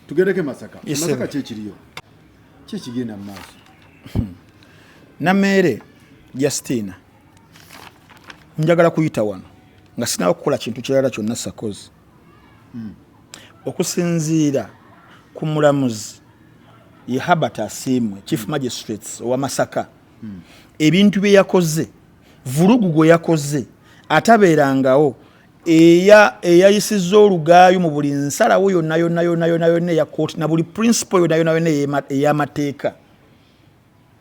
tugereke masaka masaka kyekiriyo kyekigenda mu maaso hmm. nameere justina njagala kuyita wano nga sinawo kukola kintu kirala kyonna sakozi hmm. okusinziira ku mulamuzi ye habert asiimwe chief hmm. magistrates owa masaka ebintu bye yakoze vulugu gwe yakoze atabeerangawo eya eyayisizza olugaayu mu buli nsalawo yonna yonna yonna yonna yonna eya kooti na buli principle yonna yonna yonna ey'amateeka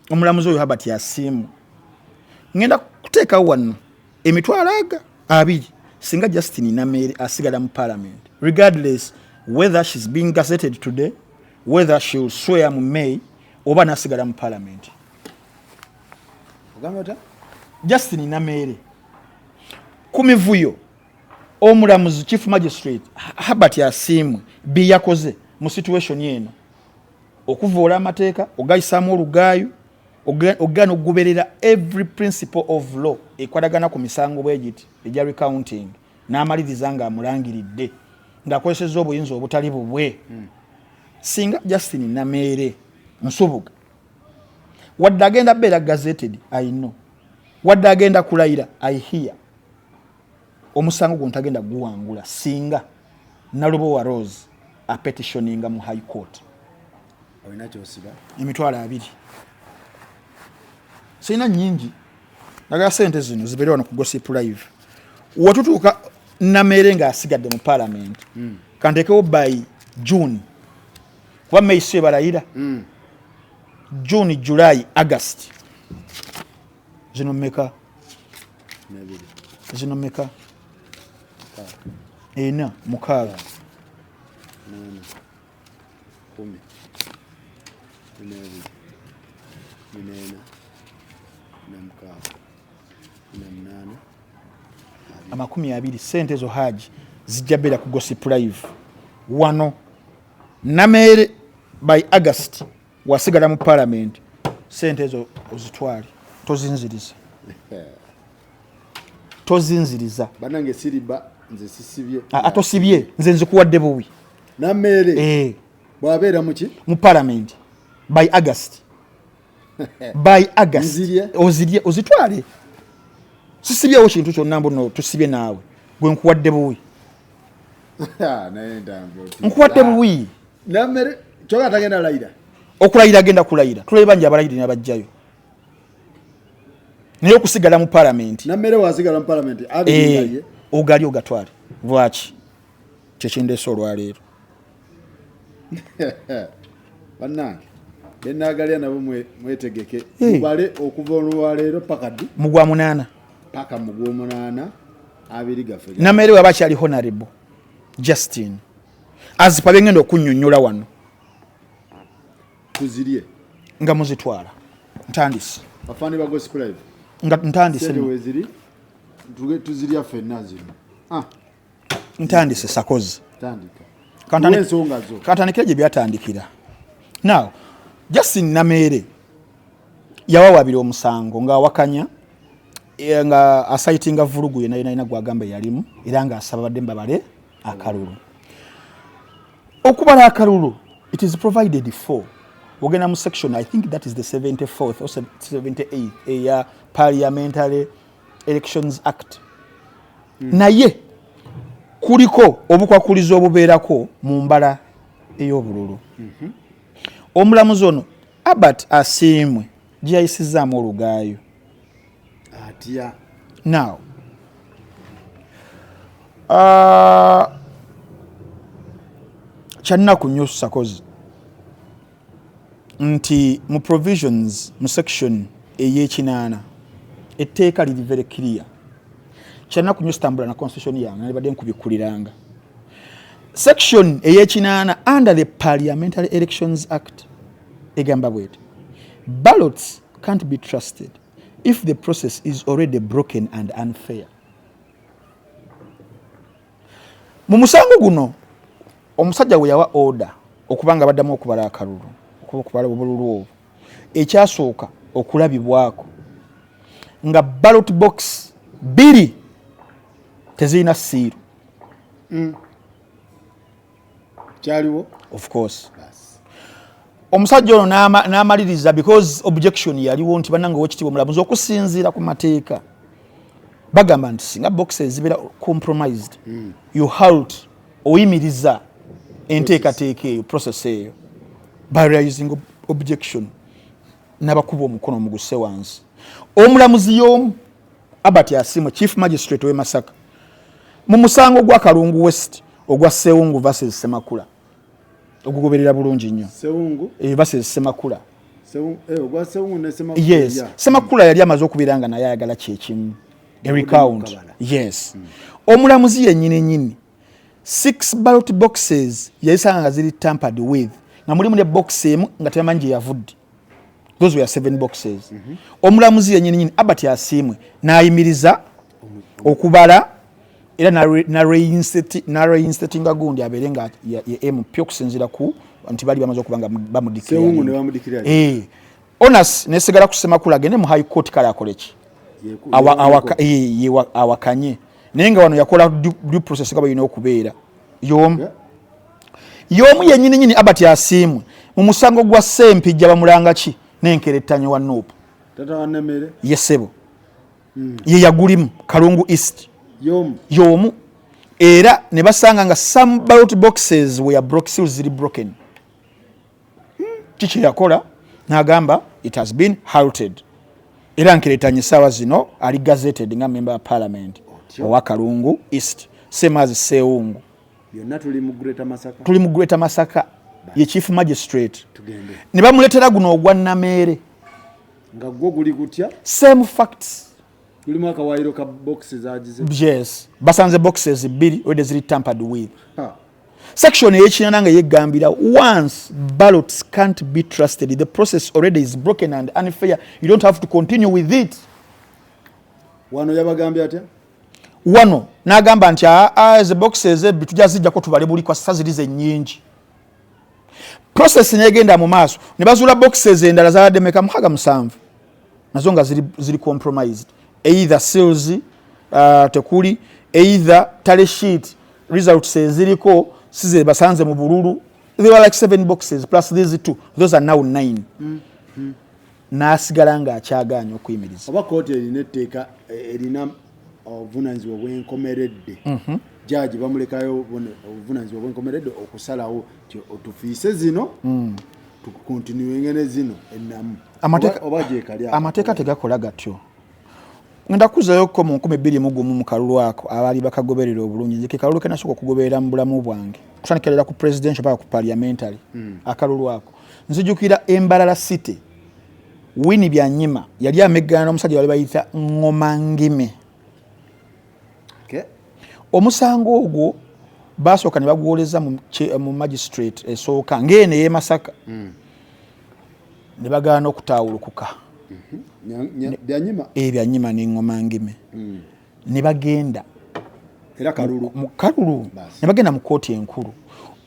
omulamuzi oyo habert yasiimu ngenda kuteekawo wano emitwalo aga abiri singa justin nameere asigala mu parliament regardless whether she's being gazetted today whether she will swear mu may oba nasigala mu parliament ogambata justin nameere ku mivuyo omulamuzi chief magistrate habert asiimwe bye yakoze mu situation eno okuvoola amateeka ogayisaamu olugaayu ogana okugoberera every principle of law ekwatagana ku misango bwegiti egya recounting n'amaliriza nga amulangiridde ng'akozesezza obuyinza obutali bubwe hmm. singa justin nameere nsubuga wadde agenda beera gazeted i know wadde agenda kulayira i hear omusango gwo ntagenda guwangula singa nalubowa rose apetitioninga mu high court emitwalo abiri sirina nyingi naga sente zino zibeere wano ku gossip live watutuuka nameere ngaasigadde mu palamenti hmm. kantekewo by june kuba may si ebalayira mm. june july august zino meka zino meka ena mukaaga amakumi abiri sente ezo haji zijja beera ku gosipulive wano Nameere by August wasigala mu parliament sente ezo ozitwale tozinziriza tozinziriza banange siriba nze sisibye atosibye ah, ah, nze nzikuwadde buwi nameere eh. bwabeera muki mu parliament by August by august ozirye ozitwale sisibyewo kintu kyonna mbuno tusibye naawe gwe nkuwadde buwi nkuwadde buwi okulayira agenda kulayira tulabe bangi abalayiri nabajjayo naye okusigala mu palamenti eh, ogali ogatwale lwaki kyekindeesa olwaleero bannange benagalya nabo mwetegeke mubale okuva olwaleero paka ddi mugwa munaana paka mugwa omunaana abiri gaffe nameere waba akyali honarable justin azipa byengenda okunyonyola wano tuzirye nga muzitwala ntandise bafani ba gospel live nga ntandise tuzirya fenna zino ah. ntandise sakozi kantandikira gye byatandikira now justin nameere yawawabira omusango ng'awakanya eh, nga asayitinga vulugu yena yenalina gwagamba yalimu era ng'asaba badde mbabale akalulu okubala akalulu it is provided for ogenda mu section i think that is the 74th or 78 eya parliamentary elections act mm. naye kuliko obukwakulizo obubeerako mu mbala ey'obululu mm -hmm. omulamuzi ono abert asiimwe gyeyayisizaamu olugaayo atya now uh, kyannaku nyo sakozi nti mu provisions mu section eyekinaana etteeka liri very clear kyanaku nyo sitambula na constitution yange nalibadde nkubikkuliranga section eyekinaana under the parliamentary elections act egamba bwete ballots can't be trusted if the process is already broken and unfair Mu musango guno omusajja we yawa oda okubanga baddamu okubala akalulu okuba okubala obululu obwo ekyasooka okulabibwako nga ballot box bbiri tezirina siiru mm. kyaliwo of course omusajja ono n'amaliriza because objection yaliwo nti banange owekitiibwa omulamuzi okusinziira ku mateeka bagamba nti singa box ezibeera compromised mm. you halt oyimiriza enteekateeka eyo process eyo by realizing objection nabakuba omukono muguse wansi omulamuzi yomu Albert Asiimwe, Chief Magistrate w'e Masaka mu musango gwa Kalungu West ogwa Sewungu versus Semakula ogugoberera bulungi nnyo Sewungu eh, versus Semakula eh, yes Semakula yali amaze okubeera nga naye ayagala kyekimu recount yes hmm. omulamuzi yennyini nyini six ballot boxes yayisanga nga ziri tampered with nga mulimu ne box emu nga tebamanyi gye yavudde those were seven boxes mm -hmm. omulamuzi yenyini nyini abert asiimwe n'ayimiriza okubala era nareinstatinga gundi abeere nga ye mp okusinziira ku nti bali bamaze okuba nga bamudikira eh. onas nesigala ku semakula agende mu high court kale akoleki awakanye naye nga wano yakola due process nga balina okubeera yomu yomu yenyini nyini abati asiimwe mu musango gwa sempijja bamulanga ki nenkerettanya wa nuupu yesebo hmm. ye yagulimu kalungu east yomu era ne basanga nga some ballot boxes were broke seals ziri broken kiki yakola nagamba it has been halted era nkiretanye sawa zino ali gazetted nga member wa parliament owa kalungu east same as seungu yonna tuli mu greater masaka tuli mu greater masaka ye chief magistrate ne bamuletera guno ogwa nameere nga gwo guli gutya same facts lulimu akawaayiro ka boxes agize yes basanze boxes bbiri wede ziri tampered with ha. section eyekinana nga yeggambira once ballots can't be trusted the process already is broken and unfair you don't have to continue with it wano yabagambye atya wano nagamba nti ah, ah, the boxes ebbi tujja zijjako tubale buli kwasisa ziri zenyingi process negenda mu maaso ne bazuula boxes endala zabadde meka mukaga musanvu nazo nga ziri, ziri compromised either sales uh, tekuli either tale sheet results eziriko sizebasanze mu bululu they were like seven boxes plus these two those are now nine mm. Mm. nasigala nga akyagaanya okuyimiriza oba kooti erina etteeka eh, erina obuvunanyizibwa bwenkomeredde mhm. jaji bamulekayo obuvunanyizibwa bwenkomeredde okusalawo otufiise zino mm. amateeka tegakola gatyo ngenda kuzayo ko mu nkumi bbiri mu gumu mu kalulu ako abaali bakagoberera obulungi nze ke kalulu kenasooka okugoberera mu bulamu bwange kutandikirira ku presidential paka ku parliamentary hmm. akalulu ako nzijukira embalala city wini byanyima yali ameggana n'omusajja wali bayita ngoma ngime omusango ogwo baasooka ne baguwoleza mu magistrate esooka ng'eno ey'e masaka hmm. ne bagaana okutaawulukuka mhm. eh, byanyima n'eŋŋoma ngime hmm. ne bagenda mu kalulu ne bagenda mu kkooti enkulu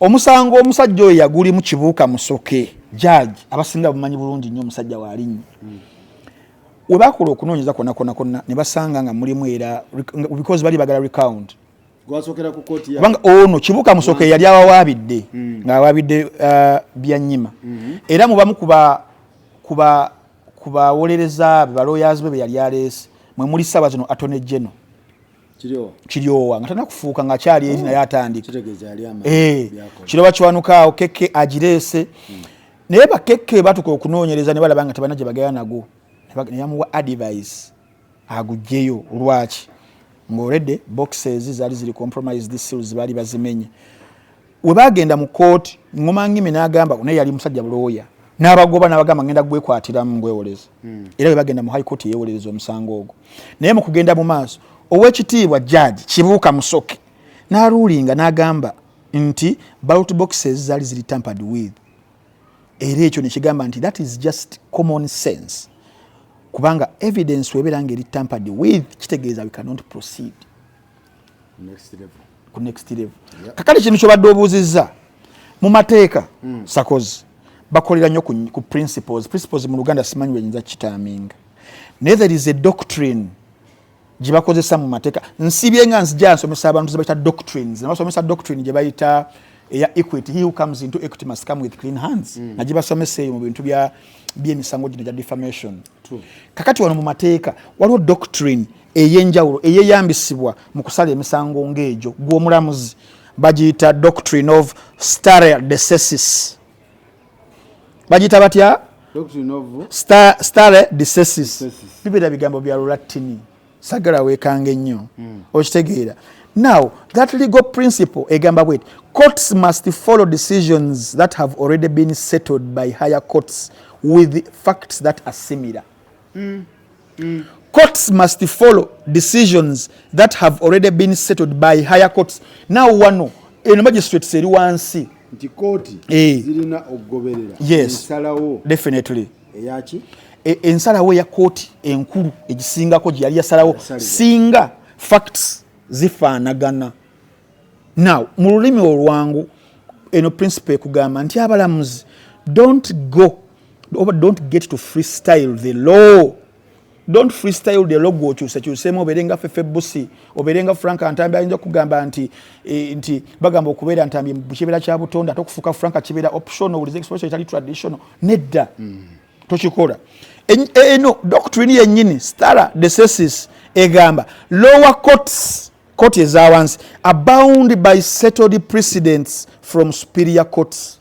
omusango omusajja oyo yagulimu kibuuka musoke jaaji abasinga bumanyi bulungi nnyo omusajja waalinnya hmm. we baakola okunoonyeza kwonna kwonna kwonna ne basanga nga mulimu era because bali bagala recount kubanga ono kibuka musoka eyali awawaabidde mm. ng'awaabidde uh, byanyima mm-hmm. era mubamu ku bawolereza be baloyazi be be yali aleese mwe muli saba zino atone geno kiryowa nga tana kufuuka nga akyali eri oh. naye atandika eh, kiroba kiwanukaawo keke agireese mm. naye bakekke batuka okunoonyereza ne balaba nga tebana gye bagaya nago ne yamuwa advice agugyeyo lwaki ng'olredde boxes zaali ziri compromise this seals baali bazimenye we baagenda mu kooti ngoma ngimi n'agamba naye yali musajja bulooya n'abagoba n'abagamba ngenda gwekwatiramu ngwewoleza hmm. era we bagenda mu high court yeewolereza omusango ogwo naye mu kugenda mu maaso ow'ekitiibwa judge kibuuka musoke n'aluulinga n'agamba nti ballot boxes zaali ziri tampered with era ekyo nekigamba nti that is just common sense kubanga evidence webeera nga eri tampered with kitegeeza we cannot proceed ku next level kakati kintu kyobadde obuuzizza mu mateeka hmm. sakozi bakolera nnyo ku principles principles mu luganda simanyi wenyinza kitaaminga naye there is a doctrine gyebakozesa mu mateeka nsibye nga nzija nsomesa abantu zebayita doctrines nabasomesa doctrine gyebayita eya equity he who comes into equity must come with clean hands mm. nagibasomesa eyo mu bintu bya byemisango gino gya defamation True. kakati wano mu mateeka waliwo doctrine eyenjawulo eyeyambisibwa mu kusala emisango ngaegyo gwomulamuzi bagiyita doctrine of stare decesis bagiyita batya stare disesis bibera bigambo bya lulattini sagala wekanga ennyo hmm. okitegeera now that legal principle egamba bwet courts must follow decisions that have already been settled by higher courts with facts that are similar mm. Mm. courts must follow decisions that have already been settled by higher courts now wano eno magistrates eri wansi nti kooti eh. zirina okugoberera ensalawo definitely eyaki e, ensalawo eya kooti enkulu egisingako gyeyali yasalawo singa facts zifaanagana now mu lulimi olwangu eno principle ekugamba nti abalamuzi don't go oba don't get to freestyle the law don't freestyle the law gwokyusekyusemu obeere nga fefe busi obeere nga frank ntambi ayinza okugamba nti e, nti bagamba okubeera ntambi kibeera kya butonde ate okufuuka frank kibeera optional wuliza expression etali traditional nedda mm. tokikola eno e, e, doctrine yennyini stara desesis egamba lower courts court ezawansi abound by settled precedents from superior courts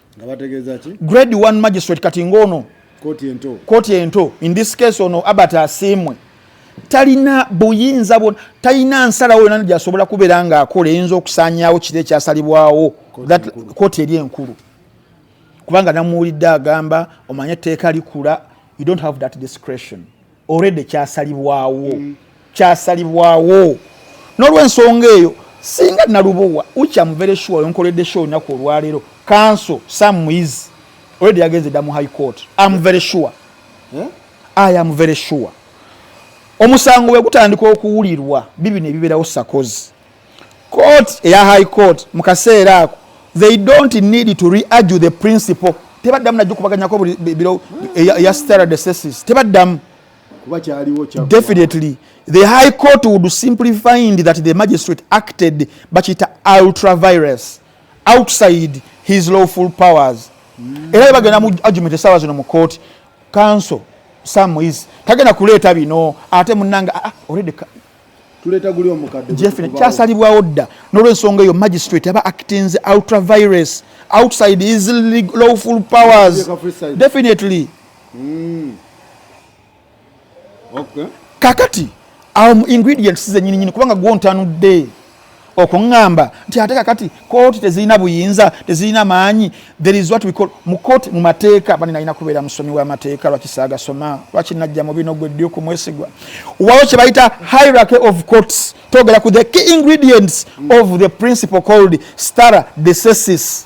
nga bategeeza ki grade 1 magistrate kati ng'ono kooti ento kooti ento in this case ono abert asiimwe talina buyinza bwona talina nsalawo yona gyasobola kubeera ng'akola eyinza okusaanyaawo kiro ekyasalibwawo kooti eri enkulu kubanga namuwulidde agamba omanye etteeka likula you don't have that discretion already kyasalibwawo mm. kyasalibwawo n'olwensonga eyo singa nalubowa ucha muvere sure yonkoledde show olunaku olwaleero kanso sam is already yagenze dda mu high court am very sure yeah? i am very sure omusango bwe gutandika okuwulirwa bibino ebibeerawo sakozi court eya high court mu kaseera ako they don't need to reargue the principle tebaddamu najukubaganyako biro eya stara desesis tebaddamu definitely the high court would simply find that the magistrate acted bakiyita ultravirus outside his lawful powers mm. era bagenda mu argument esaawa zino mu court council samuis tagenda kuleeta bino ate munanga ah, ah, already jeffrey kyasalibwawo dda n'olwensonga eyo magistrate aba actins ultravirus outside his lawful powers definitely mm. okay. kakati awo ingredients zenyini nyini kubanga gwontanudde okuŋŋamba nti ate kakati kooti tezirina buyinza tezirina maanyi there is what we call mu kooti mu mateeka bani nalina kubeera musomi w'amateeka lwaki saagasoma lwaki najja mu bino gwe ddi okumwesigwa waliwo kye bayita hierarchy of courts twogera ku the key ingredients of the principle called stara decesis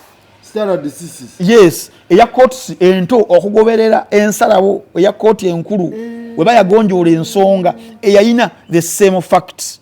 yes eya courts ento okugoberera ensalawo eya kooti enkulu eh. weba yagonjoola ensonga eyayina the same facts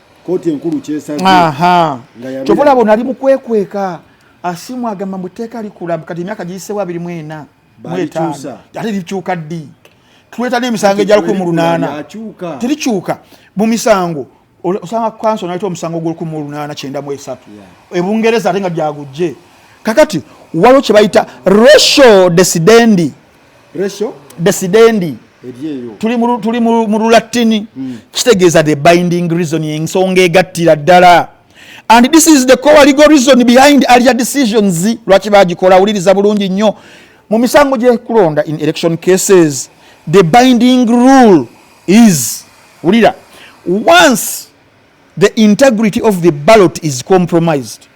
kkooti enkulu kyesaze kyova olaba onali mukwekweka asimu agamba mbu tteeka likula kati emyaka giyisewo abiri mu ena mu etaano ate likyuka ddi tuleeta n'emisango egya lukumi mu lunaana terikyuka mu misango osanga kanso naleta omusango gwolukumi mu lunaana kyenda mu esatu ebungereza ate nga gyagujje kakati waliwo kye bayita ratio desidendi Resho desidendi tuli mu lulatini hmm. kitegeeza the binding reason ensonga egattira ddala and this is the core legal reason behind alia decisions lwaki bagikola awuliriza bulungi nnyo mu misango gyekulonda in election cases the binding rule is wulira once The integrity of the ballot is compromised.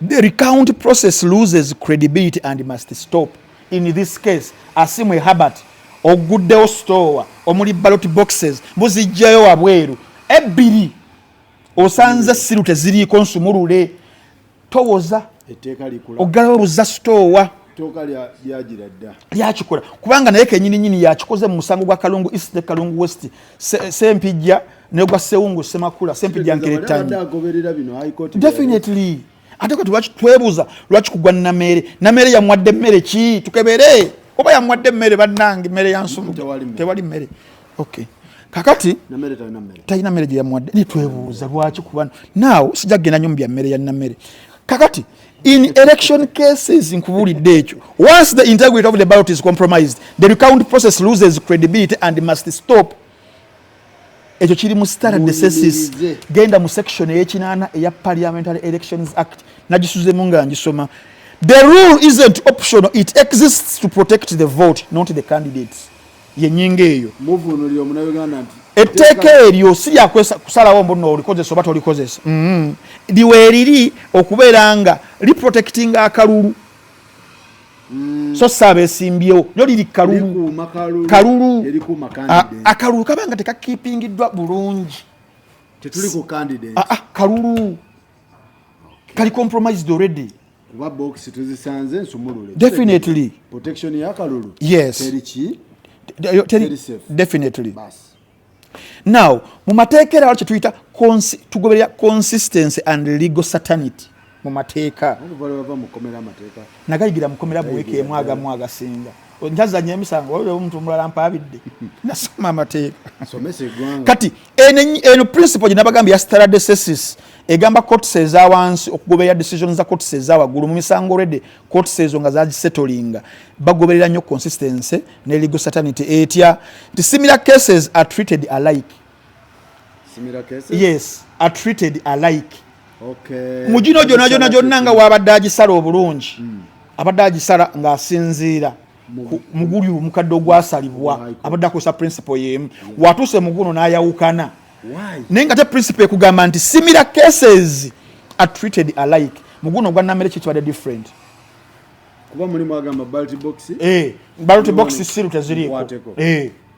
The recount process loses credibility and must stop. In this case, Asimwe Herbert oguddewo store omuli ballot boxes muzijjayo wabweru ebbiri osanze siru teziriiko nsumulule towoza oggalawo buzza sitoowa lyakikola kubanga naye kenyini nyini yakikoze mu musango gwa kalungu east ne kalungu west sempijja negwa sewungu semakula sempijja nkeretanyi definitely ate kati lwaki twebuza lwaki kugwa nameere nameere yamwadde mmere ki tukebere oba yamwadde mmere bannange mmere yansumtewali mmere okay kakati talina mmere gyeyamuwadde netwebuuza lwaki kuba naawo sijja kugenda nyo mu bya mmere yalina mmere kakati in election cases nkubulidde ekyo once the integrity of the ballot is compromised the recount process loses credibility and must stop ekyo kiri mu standard necessis genda mu section eyekinaana eya parliamentary elections act nagisuzemu nga ngisoma the rule isn't optional it exists to protect the vote not the candidates yenyinga eyo etteeka eryo si lyakusalawo mbu no olikozesa oba tolikozesa mm-hmm. liweeriri okubeera nga liprotectinga akalulu mm. so si abesimbyewo lyo liri kalulu kalulu akalulu kaba nga tekakipingiddwa bulungi ah, ah, kalulu kali compromised already kuba box tuzisanze nsumulule definitely protection ya kalulu yes teriki teri safe definitely bas now mu mateeka era wakyo tuyita tugoberera consistency and legal certainty mu mateeka nagayigira mukomera bweka emu agamu agasinga ntazanya emisango oyo omuntu omulala mpabidde nasoma amateeka kati eno principle gyenabagambye ya staradesesis egamba cots eza wansi okugoberera decision za cots eza waggulu mu misango olwedde cots ezo nga zagisetolinga bagoberera nnyo consistency ne legal certainty etya nti similar cases are treated alike yes are treated alike okay. mu gino gyona gyona gyonna nga wabadde agisala obulungi mm. abadde agisala ng'asinziira muguli omukadde ogwasalibwa abadde akozesa principle yemu watuuse muguno n'ayawukana naye nga te principle ekugamba nti simira cases are treated alike muguno ogwa namere kyo kibadde different kuba mulimu agamba balti box eh balti box siru teziriiko eh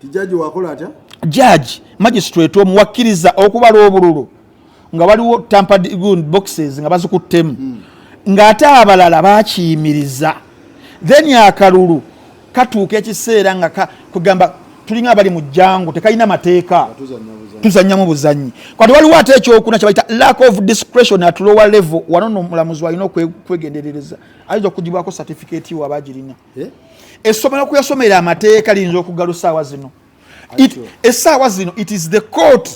Tijaji wakola atya? Judge, magistrate omuwakkiriza okubala obululu nga waliwo tampered gun boxes nga bazikuttemu hmm. ng'ate abalala bakiyimiriza then akalulu katuuka ekiseera nga kugamba tulinga abali mu jangu tekalina mateeka tuzanyamu buzanyi kati waliwo ate ekyokuna kyebayita lack of discretion at lower level wano nomulamuzi walina okwegenderereza ayinza okugibwako certificate waba agirina eh? essomero kuyasomera amateeka liyinza okugalo saawa zino esaawa zino it is the court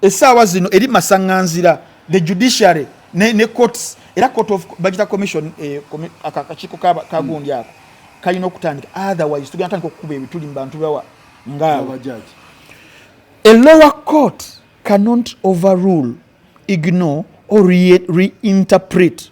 esaawa zino eri masaŋanzira the judiciary ne, ne courts era court of bagita commission eh, akakiiko kagundi mm. ako kalina okutandika otherwise tugenda tandika okukuba ebituli mu bantu bawa ngaabo a lower court cannot overrule ignore or reinterpret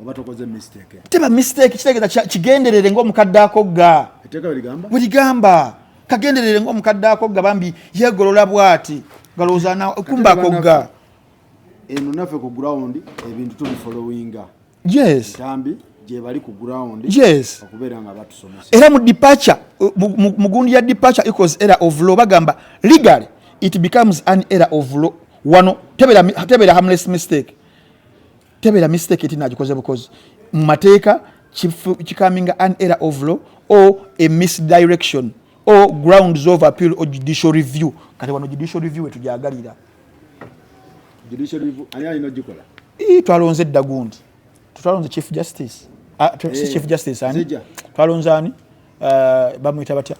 oba tokoze mistake teba mistake kitegeza kigenderere ngo mukadde ako ga eteka ligamba ligamba kagenderere ngo mukadde ako ga bambi yegolola bwati galoza na kumba ko ga eno nafe ku ground ebintu tuli following yes tambi je bali ku ground yes okubera nga batu somesa era mu departure mugundi ya departure equals era of law bagamba legally it becomes an era of law wano tebera tebera harmless mistake tebera mistake eti nagikoze bukozi mu mateeka kikaminga an error of law or a misdirection or grounds of appeal or judicial review kati wano judicial review wetujagalira twalonze edda gundi twalonze chief justice ah, eh, chief justice ani twalonze ani eh, bamwita batya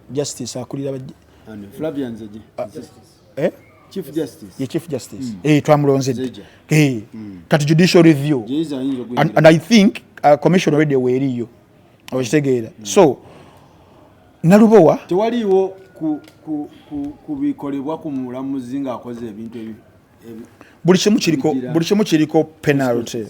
justice akulira ah, eh? Chief Justice. Ye Chief Justice. Mm. Eh, twamulonze. Eh. Mm. Kati judicial review. And, and I think uh, commission already weriyo. Okitegeera. Mm. So Nalubowa tewaliwo ku ku ku kubikolebwa ku mulamuzi ng'akoze ebintu ebi buli kimu kiriko buli kimu kiriko penalty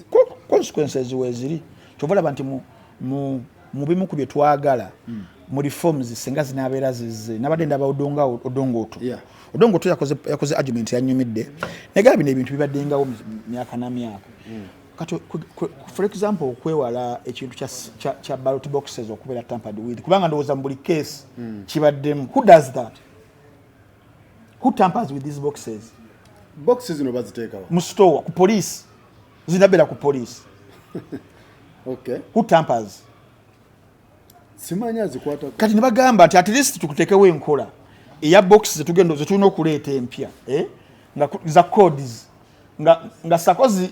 consequences weziri kyovalaba nti mu mu mu bimu ku bye twagala mm. mu reforms singa zinabeera zize nabadde ndaba odonga odongoto yeah. odongoto yakoze, yakoze argument yanyumidde negaba bino ebintu bibaddengawo myaka na myaka mm. kati for example okwewala ekintu kya, kya, kya ballot boxes okubeera tampered with kubanga ndowooza mu buli case mm. kibaddemu who does that who tampers with these boxes boxes zino baziteekawa mu store ku police nze nabeera ku poliisi okay. who tampers simanyi azikwata kati nebagamba nti at least tukutekewo enkola eya box zetugenda zetulina okuleeta empya eh? nga za codes nga, nga sakozi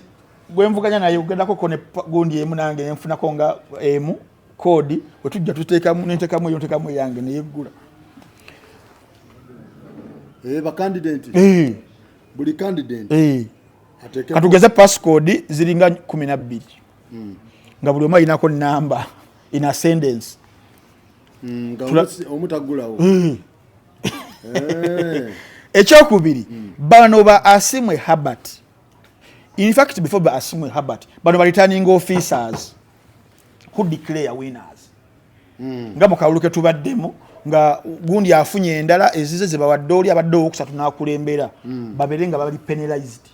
gwenvuganya naye ugendako ko ne gundi emu nange nenfunako nga emu kodi wetujja tutekamu nentekamu eyo ntekamu eyange neyeggula eh, bakandidenti eh. buli kandidenti eh. katugeze passcode ziringa kumi nabbiri hmm. nga buli omu ayinako namba in ascendance hmm, omutagulawo hmm. eh. ekyokubiri bano ba asimwe habert infact before ba asimwe habert bano balitaninga officers who declare winners hmm. nga mukalulu ketubaddemu nga gundi afunye endala ezize zebawadde oli abadde owokusatu nakulembera hmm. babere nga bali penalized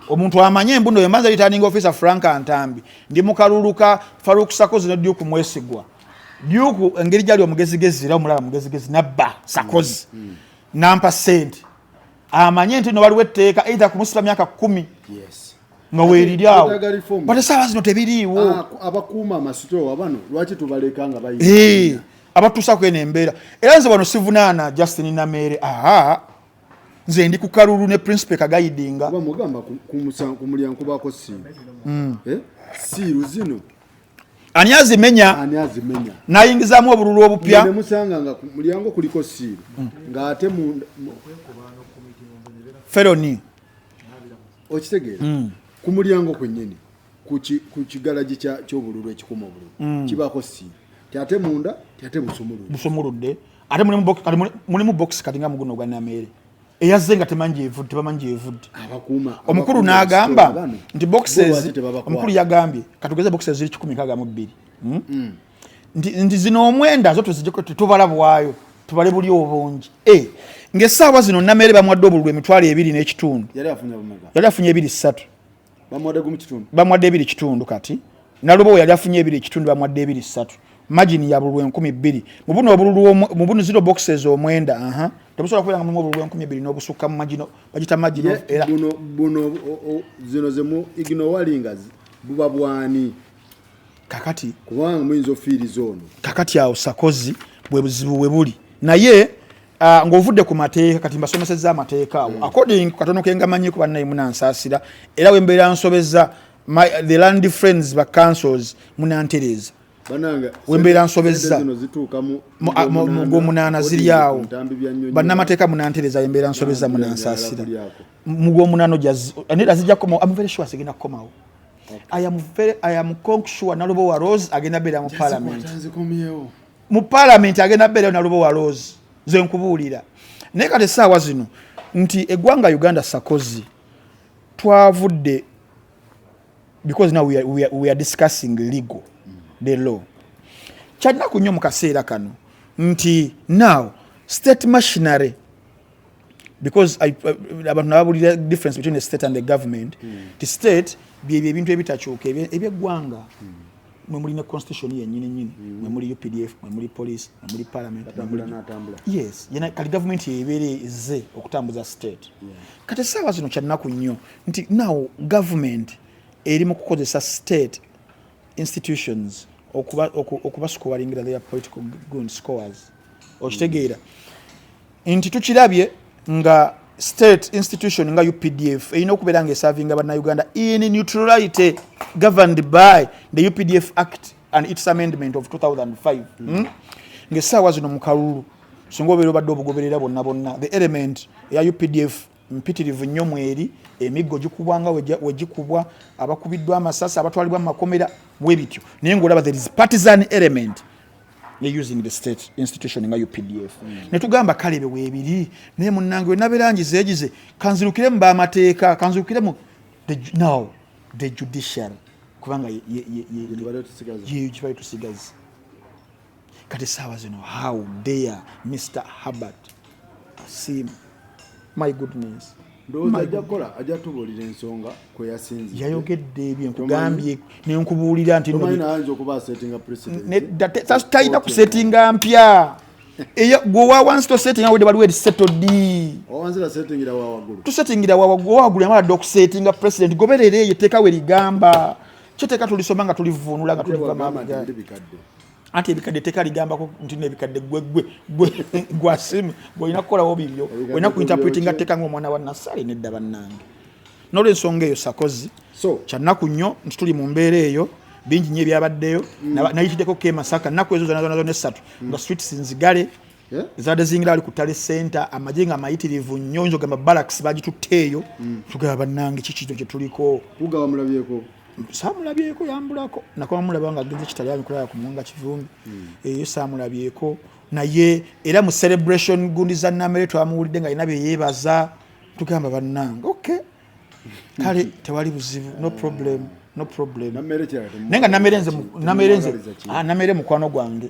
omuntu amanye embuno yo manza returning officer frank antambi ndi mukaluluka faruk sakozi ne duke mwesigwa duke engeri gyali omugezigezi era omulaba mugezigezi nabba sakozi mm. mm. nampa sente amanye nti no waliwo etteeka either kumusiba myaka kumi yes. nga weeriri awo bate saawa zino tebiriiwo ah, abakuuma amasitoowa bano lwaki tubaleka nga bayi eh, abatuusa kweno embeera era nze bano sivunaana justin nameere aa nze ndi ku kalulu ne principe kagayidinga mugamba ku mulyango kubako siiru hmm. eh, siiru zino ani azimenya ani azimenya nayingizamu obululu obupya nemusanga nga mulyango kuliko siiru hmm. ng'ate feloni okitegeera mm. ku mulyango kwennyini ku kigalagi ky'obululu ekikuma obululu mm. kibaako si ate munda ate busumuludde ate mulimu bokisi kati nga muguno ogwa nameere eyazze nga tebamanyi gyevudde omukulu n'agamba nti boxes omukulu yagambye katugeze boxes ziri kikumi nkaaga mu bbiri hmm? mm. nti zino omwenda zo tuzijeko tetubala bwayo tubale buli obungi eh, ngaesaawa zino namere bamwadde obululu emitwalo ebiri nekitundu yali afunye ebiri satu bamwadde ebiri kitundu kati nalubowo yali afunye ebiri ekitundu bamwadde ebiri satu magini ya bululu enkumi bbiri mubuno obululu mubuno zero boxes omwenda aha temusobola kubeera nga mulimu obululu enkumi ebbiri n'obusukka mu magino bagita magino era buno buno zino zemu ignowalinga buba bwani kakati kubanga muyinza ofiiriza ono kakati awo sakozi bwe buzibu we buli naye uh, ng'ovudde ku mateeka kati mbasomesezza amateeka awo mm. according katono kengamanyiko bannaye munansaasira era wembeera nsobeza my, the land friends ba councils munantereeza wembeera nsobezza mugwomunaana ziri awo bannamateeka munantereza wembeera nsobezza munansaasira mugwomunaana nedazijja kukomawo am very sure sigenda kukomawo I am very, I am conk sure Nalubo wa Rose agenda bera mu parliament. Mu parliament agenda bera Nalubo wa Rose. Ze nkubuulira. Naye kati essaawa zino nti eggwanga Uganda sakozi twavudde because now we are, we are, we are discussing legal mm. the law kyalinaku nnyo mu kaseera kano nti now state machinery because I, uh, abantu nababulira difference between the state and the government mm. the state byebyo ebintu ebitakyuka ebyeggwanga mm. mwe muli ne constitution yenyini nyini mm. mwe muli updf mwe muli police mwe muli parliament yes yena kali government yebeere ze okutambuza state yeah. kati saawa zino kyannaku nnyo nti now government eri mu kukozesa state institutions okubasukubalingira okuba their political gun scores okitegeera mm. nti tukirabye nga state institution nga updf erina okubeera nga esavinga bannauganda in neutrality governed by the updf act and its amendment of 2005 mm. hmm? ngaesaawa zino mukalulu singa obeera obadde obugoberera bonna bonna the element eya updf mpitirivu nnyo mweri emiggo gikubwa nga wegikubwa abakubiddwa amasasi abatwalibwa mu makomera webityo naye ngaolaba there is partisan element using the state institution nga updf mm. netugamba kale bewebiri naye munange wenaberangizegize kanzirukire mu bamateeka kanzirukire mu now the judiciary kubanga yekibali tusigazi kati saawa zino how dare mr habert asim my goodness yayogedde ebyo nkugambye nenkubuulira nti talina kusetinga mpya gweowa wansi tosetinga wede baliwo erisetodi tusetingira wawagulu wawagulu yamala dde okusetinga president goberera eyo etteeka we ligamba kyo teeka tulisoma nga tulivuunula nga tuliva mabega anti ebikadde teka ligambako nti nebikadde gwegwegwasimu gwolina kukolawo bibyo olina kuinterpretinga teka ngaomwana wa nasale nedda bannange nolwensonga eyo sakozi kyannaku nnyo nti tuli mu mbeera eyo bingi nyo ebyabaddeyo mm. nayitiddeko ke masaka nnaku ezo zonazonazo nessatu mm. nga streets nzigale eh? zibadde zingira ali ku tale center amagye nga amayitirivu nnyo oyinza ogamba balaks bagitutte eyo mm. tugaba bannange kikito kyetuliko saamulabyeko yambulako nakoma mulaba nga agenze kitalyaani kulaba ku muwanga kivumbi hmm. eyo saamulabyeko naye era mu celebration gundi za namere twamuwulidde nga alina byeyeebaza tugamba bannange ok kale tewali buzibu no problem no problem naye nga namere nze ah, mukwano gwange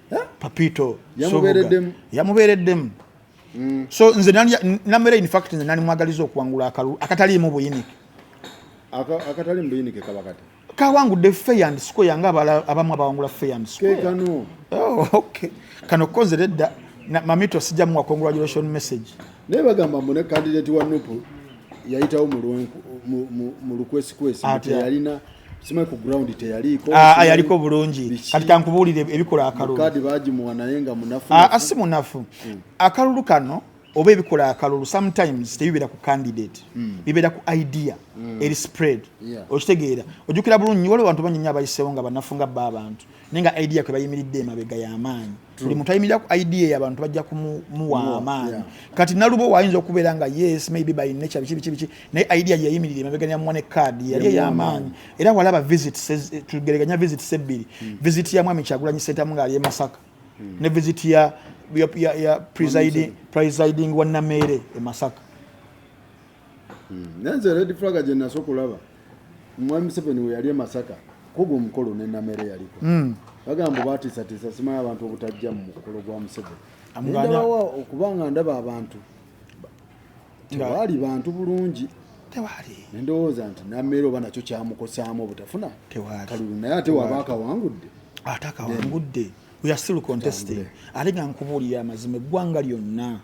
papito yamubeereddemu mm. so nze namera infact nze nali mwagaliza okuwangula akalulu akataliimu buyinike akataliimu buyinike kaba kati kawangudde fair and square nga abamu abawangula fair and square kano oh, okay kano koze ledda mamito sija mu congratulation message naye bagamba mune candidate wa nupu yayitawo mu lwenku mu lukwesi kwesi yalina ah, simwe ku ground teyaliiko ah, ah yaliko bulungi kati kankubuulire ebikola akalulu kadi bagimuwa naye nga munafu ah, ah si munafu mm. akalulu kano oba ebikola akalulu sometimes tebibeera ku candidate mm. bibeera ku idea mm. eri spread yeah. okitegeera ojukira bulungi waliwo bantu banyinyo abayisewo nga banafu nga bba abantu naye nga idea kwe bayimiridde emabega yamaanyi buli muntu ayimirira ku idea eyo abantu bajja kumuwa amaanyi kati nalubo waayinza okubeera nga yes maybe by nature biki biki biki naye idea gye yayimirira emabega ya mwane card yali ey'amaanyi era walaba visit eh, tugereganya visit sebbiri hmm. visit ya mwami kyagulanyi sentamu ng'ali e masaka hmm. ne visit ya ya presiding presiding wa nameere e masaka Hmm. Nanze red flag gye naso kulaba Mwami Museveni we yali e Masaka kugo omukolo ne namere yaliko hmm. bagamba batiisatiisa simanyi abantu obutajja mu mukolo gwa Museveni ndabawa okuba nga ndaba abantu tewaali bantu bulungi tewaali nendowooza nti namere oba nakyo kyamukosaamu obutafuna kalulu naye ate waba akawangudde ate akawangudde we are still contesting ate nga nkubuulira amazima eggwanga lyonna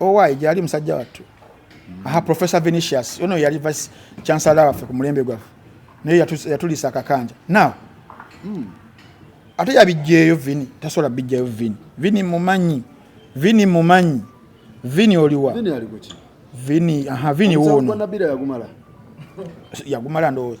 owaye gyali musajja wattu aha professor venetius ono yali vice chancellor waffe ku mulembe gwaffe naye yatulisa akakanja now hmm. ate yabijjeeyo vini tasobola bijjayo vini vini mumanyi vini mumanyi vini oliwa vini aha vini wuuno yagumala ndowooza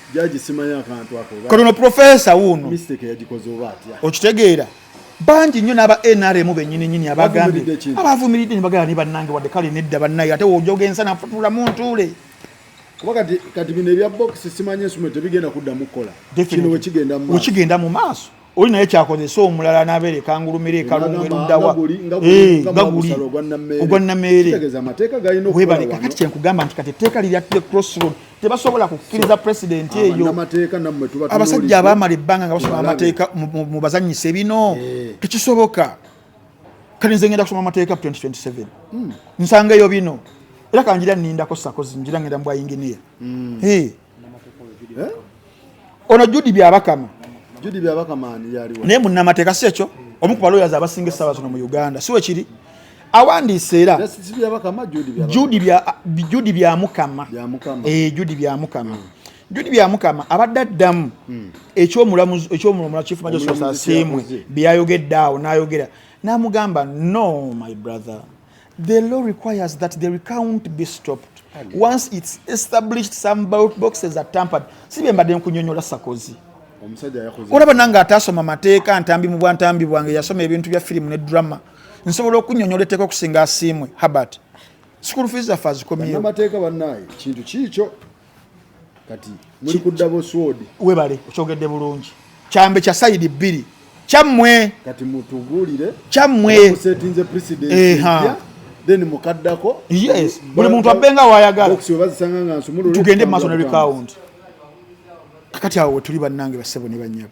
Jaji simanyi akantu ako. Kati no professor wuno. Mistake yagikoze oba atya. Okitegeera. Bangi nnyo n'aba NRM bennyini nyini abagambye abavumiridde ne bagala ne bannange wadde kale nedda bannaye ate wojoga ensa nafutuula mu ntuule. Kuba kati kati bino ebya box simanyi ensuma tebigenda kuddamu kukola. Kino wekigenda mu maaso. Wekigenda mu maaso. oli naye kyakozesa omulala nabeere kangulumira ekalungu eruddawa eh, nga guli ogwa nameere webale kakati kyenkugamba nti kati etteeka lirya the crossroad tebasobola kukkiriza president eyo abasajja abamala ebbanga nga basoma amateeka mu bazanyise bino eh. tekisoboka kati nze ngenda kusoma amateeka 2027 hmm. nsanga eyo bino era kanjira nindako sakozi njira ngenda mbwa inginiya hmm. eh. eh? ono judi byabakama judi byabakama ani yaliwa naye munnamateeka si ekyo omu ku baloyazi abasinga essaawa zino mu uganda si wekiri awandiise era judi byamukama judi byamukama eh, judi byamukama abadde addamu hmm. ekyomulamuziekyomulamula chief magistrate asiimwe byayogedde awo nayogera namugamba no my brother The law requires that the recount be stopped once it's established some ballot boxes are tampered. Si bye mbadde nkunyonyola Sarkozy. Olaba nange ataasoma mateeka ntambi mu bwantambi bwange yasoma ebintu bya firimu ne drama nsobola okunyonyola etteeka okusinga asiimwe Herbert. School fees zaffe azikomyewo. Bannamateeka bannaye kintu kiikyo kati muli ku double sword webale okyogedde bulungi kyambe kya side bbiri kyammwe kati mutugulire kyammwe kusetinze president eh ha then mukaddako yes buli muntu abenga wayagala box webazisanga nga nsumulu tugende maso na recount kakati awo tuli banange basebo ne banyabo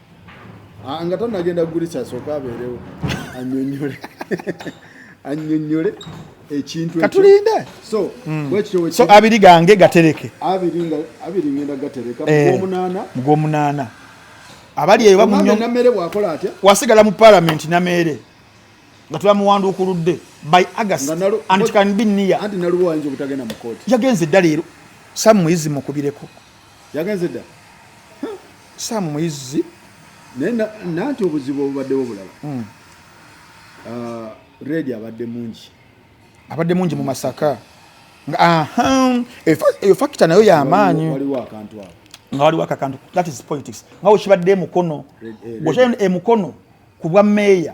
Ah, nga tanagenda kugulisa asooka abeerewo anyonyole anyonyole ekintu katulinde so hmm. so abiri gange gatereke abiri nga abiri ngenda gatereka eh, mugwomunana mugwomunana abali eyo bamunyo namere wakola atya wasigala mu parliament namere nga tulamuwanda okuludde by august and it can be near anti naluwa ayinza obutagenda mu court yagenze dda leero samuizi mukubireko yagenze dda saamu muyizzi naye nanti obuzibu obubaddewo bulala hmm. ah, redi abadde mungi abadde mungi mu masaka eyo fakita nayo yamaanyi waliwo akantu ako nga waliwo akakantu that is politics nga wekibadde emukono eh, eh, bwokyayo emukono ku bwa meeya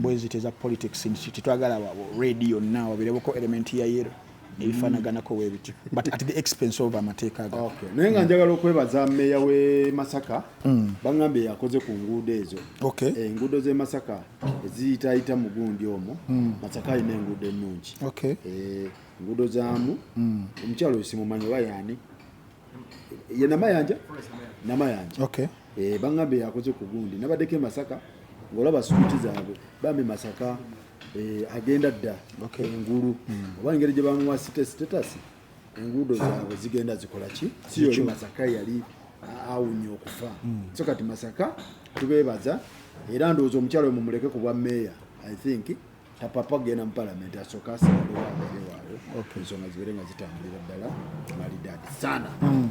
bweziti eza politics tetwagala red yonna wabereboko element ya yero ebifanaganako webiti but at the expense of amateeka ga okay. naye nga njagala okwebaza meya we masaka mm. bangambye yakoze ku nguudo ezo okay. Eh, enguudo ze masaka eziyitayita mu gundi omwo mm. masaka alina enguudo ennungi okay. eh, enguudo zamu mm. omukyalo mm. simumanyi oba yani ye namayanja namayanja okay. eh, bangambye yakoze ku gundi nabaddeko emasaka ngolaba suuti zaabwe bambi masaka eh, agenda dda engulu hmm. oba engeri gye bamuwa site status enguudo zaabwe zigenda zikola ki si yoli masaka yali awunya okufa hmm. so kati masaka tubeebaza era ndowooza omukyalo we mumuleke ku bwa meeya i think tapapa kugenda mu palamenti asooka asaalewo abeerewaayo ensonga zibeere nga zitambulira ddala malidaadi sana hmm.